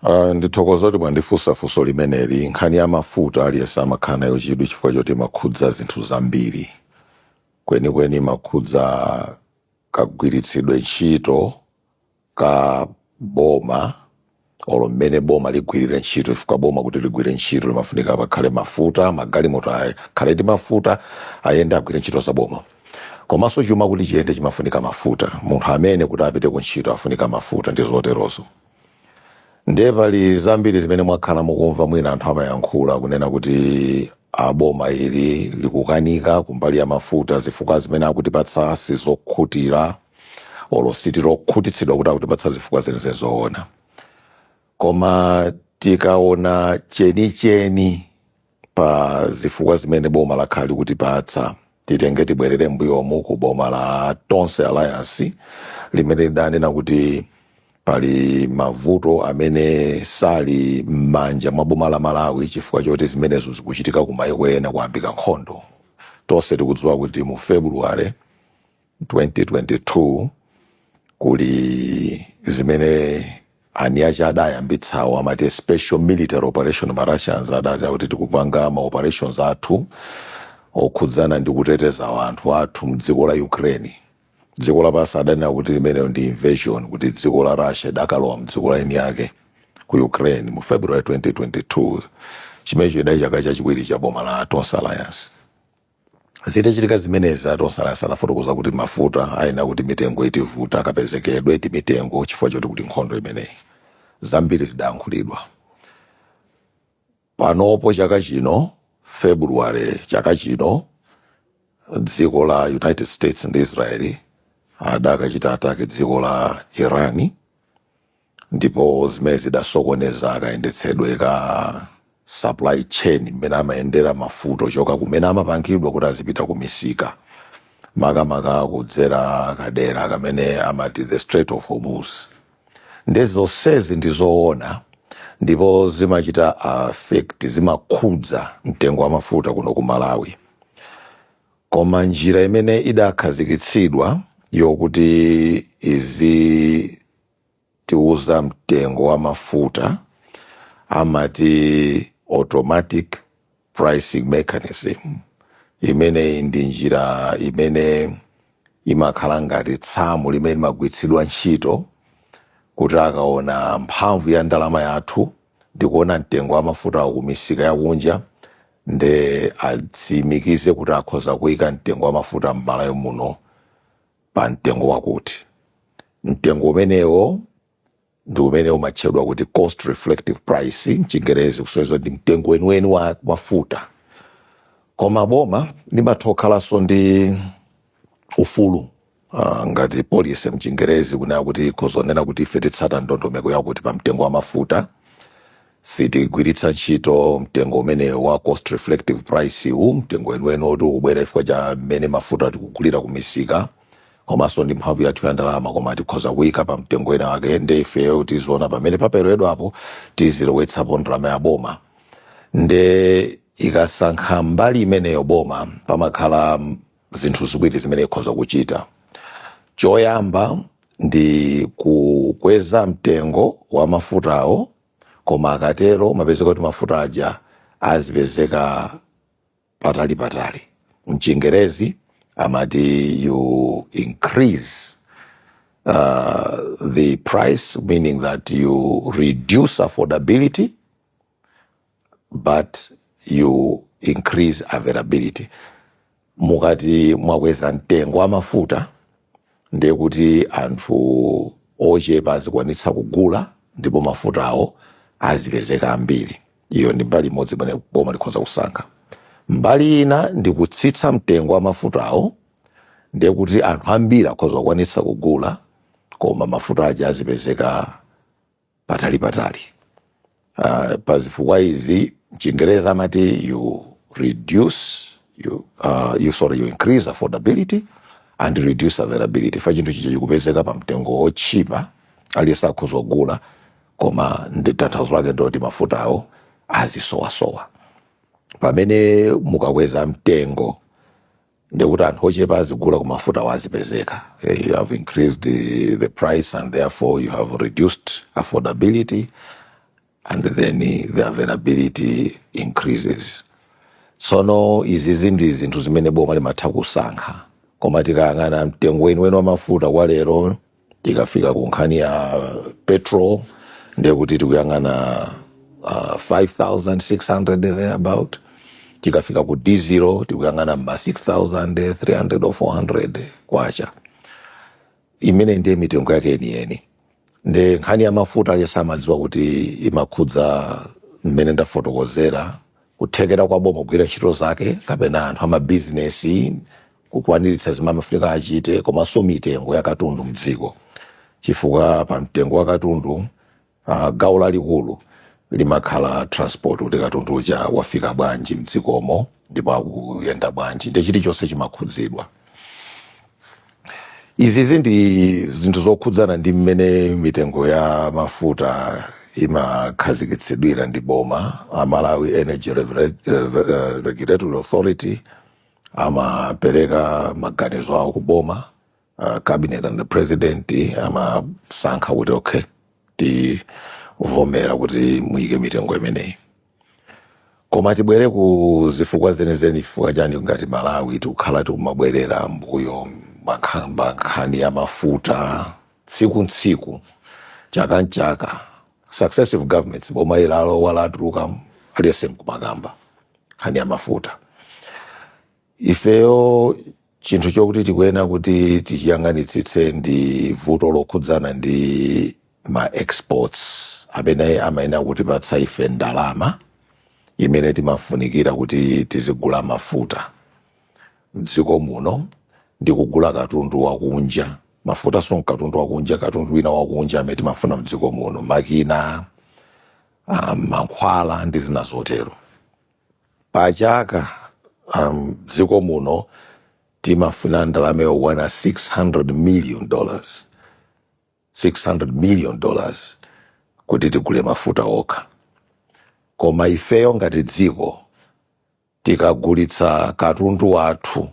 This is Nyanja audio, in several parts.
Uh, ndithokoza kuti mwandifunsa funso limeneli nkhani ya mafuta aliyense amakhala nayo chidwi chifukwa choti imakhudza zinthu zambiri kwenikweni imakhudza kagwiritsidwe ntchito ka boma or mmene boma ligwirire ntchito chifukwa boma kuti ligwire ntchito limafunika pakhale mafuta magalimoto akhale ndi mafuta ayende agwire ntchito za boma Komanso chuma kuti chiyende chimafunika mafuta, munthu amene akuti apite ku ntchito afunika mafuta ndi zoterozo. Ndiye pali zambiri zimene mwakhala mukumva mwina anthu amayankhula kunena kuti a boma ili likukanika kumbali ya mafuta zifukwa zimene akutipatsa sizokhutira olo sitili okhutitsidwa kuti akutipatsa zifukwa zenizeni zoona. Koma tikaona chenicheni. pa zifukwa zimene boma lakhala likutipatsa titenge tibwerere mbuyomu ku boma la tonse alliance limene lidanena kuti pali mavuto amene sali m'manja mwa boma la malawi chifukwa choti zimenezo zikuchitika ku maiko ena kwayambika nkhondo tonse tikudziwa kuti mu february 2022 kuli zimene eniake adayambitsawo amati a special military operation ma Russians adanena kuti tikupanga ma operations athu okhudzana ndi kuteteza anthu athu mdziko la Ukraine dziko lapansi adanena kuti limenelo ndi invasion kuti dziko la Russia idakalowa mdziko la eniake ku Ukraine mu February 2022 chimenecho chidali chaka chachiwiri cha boma la Tonse Alliance Zitachitika zimenezi, a Tonse Alliance anafotokoza kuti mafuta ayenera kuti mitengo itivuta, kapezekedwe ndi mitengo chifukwa choti kuli nkhondo imeneyi. Zambiri zidayankhulidwa. Panopo chaka chino, February chaka chino, dziko la United States ndi Israel adakachita attack dziko la Iran. Ndipo zimenezi zidasokoneza kayendetsedwe ka supply chain mmene amayendera mafuta ochoka kumene amapangidwa kuti azipita kumisika, makamaka kudzera kadera kamene amati the Strait of Hormuz. Ndiye zonsezi ndi zoona ndipo zimachita affect, zimakhudza mtengo wa mafuta kuno ku Malawi. Koma njira imene idakhazikitsidwa yokuti izi tiuza mtengo wa mafuta amati automatic pricing mechanism imeneyi ndi njira imene imakhala ngati samu limene limagwiritsidwa ntchito kuti akaona mphamvu ya ndalama yathu ndikuona mtengo wa mafutawo ku misika yakunja nde atsimikize kuti akhoza kuika mtengo wa mafuta m'malawi muno pa mtengo wakuti. Mtengo umenewo ndi umene umatchedwa kuti cost reflective price m'Chingerezi, kusonyeza kuti ndi mtengo weniweni wa mafuta. Koma boma limatha kukhalanso ndi ufulu ah, ngati policy m'Chingerezi kunena kuti ikhoza kunena kuti ife titsata ndondomeko yakuti pa mtengo wa mafuta Sitigwiritsa ntchito mtengo umene wa cost reflective price wu, mtengo weniweni woti ukubwera chifukwa cha mmene mafuta tikugulira ku misika komanso ndi mphamvu yathu ya ndalama koma tikhoza kuika pa mtengo wina wake nde ifeyo tiziona pamene paperewerapo tizilowetsapo ndalama ya boma nde ikasankha mbali imeneyo boma pamakhala zinthu ziwiri zimene ikhoza kuchita choyamba ndi kukweza mtengo wa mafutawo koma akatero mumapezeka kuti mafuta aja azipezeka patali patali mchingerezi amati you increase uh, the price meaning that you reduce affordability but you increase availability mukati mwakweza mtengo wa mafuta ndiye kuti anthu ochepa azikwanitsa kugula ndipo mafutawo azipezeka ambiri iyo ndi mbali imodzi imene boma likhoza kusankha mbali ina ndi kutsitsa mtengo wa mafutawo ndiye kuti anthu ambiri akhoza kukwanitsa kugula koma mafuta aja azipezeka patalipatali. Uh, pa zifukwa izi mchingerezi amati you reduce you, uh, you, sorry, you increase affordability and reduce availability chifukwa chinthu chija chikupezeka pa mtengo wotchipa aliyense akhoza kugula koma ndi tanthauzo lake ndiloti mafutawo azisowasowa pamene mukakweza mtengo ndekuti anthu ochepa azigula koma mafutawo azipezeka Eh, you have increased the, the price and therefore you have reduced affordability and then eh, the availability increases tsono izizi ndi zinthu zimene boma limatha kusankha koma tikayang'ana mtengo weniweni wa mafuta kwa lero Tikafika ku nkhani ya petrol ndiye kuti tikuyang'ana uh, 5600 there about tikafika ku dizilo tikuyang'ana mma 6300 or 400 kwacha imene ndiye mitengo yake yeniyeni nde nkhani ya mafuta aliyense amadziwa kuti imakhudza mmene ndafotokozera kuthekera kwa boma kugwira ntchito zake kapena anthu a mabizinesi kukwaniritsa zimene amafunika achite komanso mitengo ya katundu mdziko chifukwa pa mtengo wa katundu ah, gawo lalikulu limakhala transport kuti katundu uja wafika bwanji mdzikomo ndipo akuyenda bwanji ndiye chilichonse chimakhudzidwa Izizi ndi zinthu zokhudzana ndi mmene mitengo ya mafuta imakhazikitsidwira ndi boma. A Malawi Energy Regula- eh, eh, Regulatory Authority amapereka maganizo awo ku boma. Uh, cabinet and the president amasankha kuti okay tivomera kuti muyike mitengo imeneyi. koma tibwere ku zifukwa zenizeni chifukwa chiyani ngati malawi tikukhala tikumabwerera mbuyo kukamba nkhani ya mafuta tsiku ntsiku chaka nchaka successive governments boma ili alowa latuluka aliyense mkumakamba nkhani ya mafuta Ifeyo chinthu chokuti tikuyenera kuti tichiyang'anitsitse ndi vuto lokhudzana ndi ma exports amene amayenera kutipatsa ife ndalama imene timafunikira kuti tizigula mafuta m'dziko muno ndi kugula katundu wakunja. Mafutanso n'katundu wakunja, katundu wina wakunja amene timafuna m'dziko muno, makina, ah, mankhwala ndi zina zotero. Pa chaka mdziko muno timafuna ndalama yokwana 600 million dollars, 600 million dollars kuti tigule mafuta okha. Koma ifeyo ngati dziko tikagulitsa katundu wathu,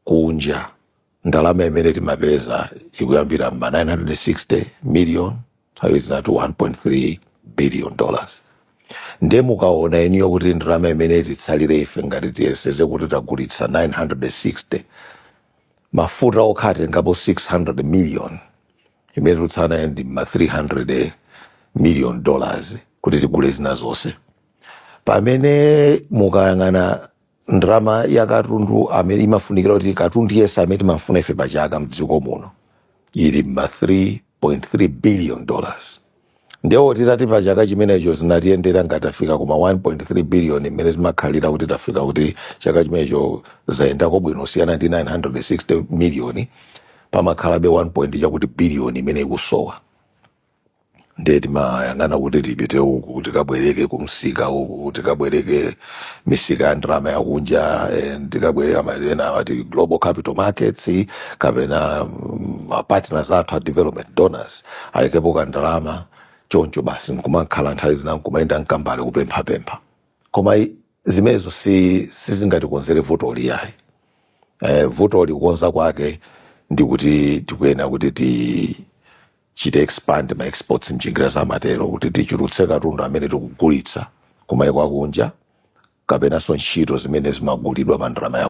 kunja ndalama imene timapeza ikuyambira mma 960 million nthawi zina 1.3 billion dollars ndiye mukaona inuyo kuti ndalama imene titsalire ife ngati tiyerekeze kuti tagulitsa 960 mafuta okha atengapo 600 million imene tikutsala ndi ma 300 million dollars kuti tigule zina zonse pamene mukayang'ana Ndalama ya katundu amene imafunikira kuti katundu yense amene timamfuna ife pa chaka mdziko muno ili mma 3.3 billion dollars. Ndiye oti tati pa chaka chimenecho zinatiyendera ngati tafika ku ma 1.3 billion mmene zimakhalira kuti tafika kuti chaka chimenecho zayendako bwino kusiyana ndi 960 million pamakhalabe 1 point chakuti billion imene ikusowa. ndiye timayang'ana kuti tipite uku tikabwereke kumsika uku tikabwereke misika ya ndalama yakunja eh, tikabwereka maineo ena amati global capital markets kapena mm, ma partners athu a development donors ayikepo ka ndalama choncho basi nkumakhala nthawi zina nkumayenda mkambale kupemphapempha koma i- zimenezo si sizingatikonzere vuto ili ayi eh, vuto ili kukonza kwake ndi kuti tikuyenera kuti ti chite expand ma exports mchingerezi amatero kuti tichulutse katundu amene tikugulitsa kumaiko akunja kapenanso ntchito zimene zimagulidwa pa ndalama ya